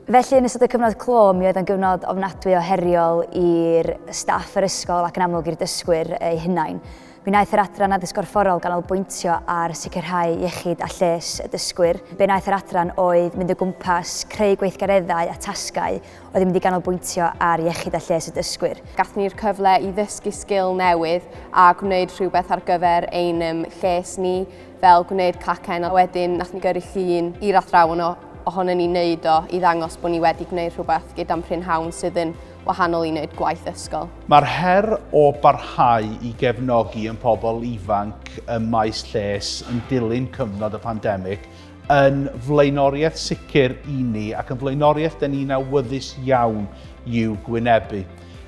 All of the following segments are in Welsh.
Felly yn ystod y cyfnod clo, mi oedd yn gyfnod ofnadwy o heriol i'r staff yr ysgol ac yn amlwg i'r dysgwyr eu hunain. Mi wnaeth yr adran addysg gorfforol ganolbwyntio ar sicrhau iechyd a lles y dysgwyr. Be wnaeth yr adran oedd mynd o gwmpas, creu gweithgareddau a tasgau oedd yn mynd i ganolbwyntio ar iechyd a lles y dysgwyr. Gath ni'r cyfle i ddysgu sgil newydd a gwneud rhywbeth ar gyfer ein lles ni. fel gwneud cacen a wedyn nath ni gyrru llun i'r athrawon o ohonon ni wneud o i ddangos bod ni wedi gwneud rhywbeth gyda'n prynhawn sydd yn wahanol i wneud gwaith ysgol. Mae'r her o barhau i gefnogi yn pobl ifanc ym maes lles yn dilyn cyfnod y pandemig yn flaenoriaeth sicr i ni ac yn flaenoriaeth dyn ni'n awyddus iawn i'w gwynebu.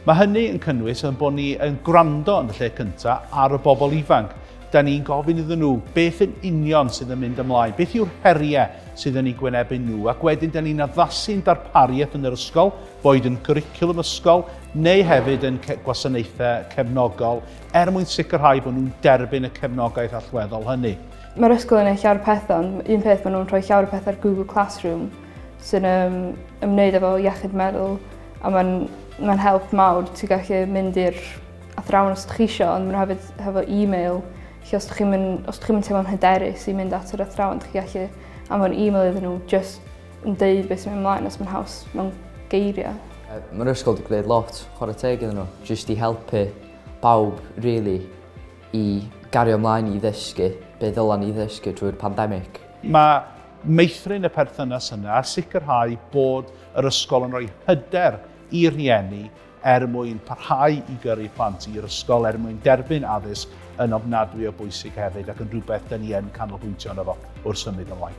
Mae hynny yn cynnwys ein bod ni yn gwrando yn y lle cyntaf ar y bobl ifanc Da ni'n gofyn iddyn nhw beth yn union sydd yn mynd ymlaen, beth yw'r heriau sydd yn ei gwynebu nhw, ac wedyn da ni'n addasu'n darpariaeth yn yr ysgol, boed yn gwricwlwm ysgol neu hefyd yn gwasanaethau cefnogol, er mwyn sicrhau bod nhw'n derbyn y cefnogaeth allweddol hynny. Mae'r ysgol yn ei llawer pethau, ond un peth maen nhw'n rhoi llawer pethau ar Google Classroom sy'n um, ymwneud efo iechyd meddwl a mae'n mae help mawr. Ti'n gallu mynd i'r athrawon os dych chi isio ond ma' 'na hefyd hefo e-mail lle os dych chi'm yn os dych chi'm yn teimlo'n hyderus i mynd at yr athrawon dych chi gallu anfon e-mail iddyn nhw jyst yn deud be' sy myn' mlaen os ma'n haws mewn geirie. Yy ma'r ysgol 'di gneud lot chware teg iddyn n'w jyst i helpu pawb rili i gario mlaen i ddysgu be' ddyla ni ddysgu drwy'r pandemic. Ma' meithrin y perthynas yna a sicrhau bod yr ysgol yn rhoi hyder i rieni er mwyn parhau i gyrru plant i'r ysgol, er mwyn derbyn addysg yn ofnadwy o bwysig hefyd ac yn rhywbeth dyn ni yn canolbwyntio arno fo wrth symud ymlaen.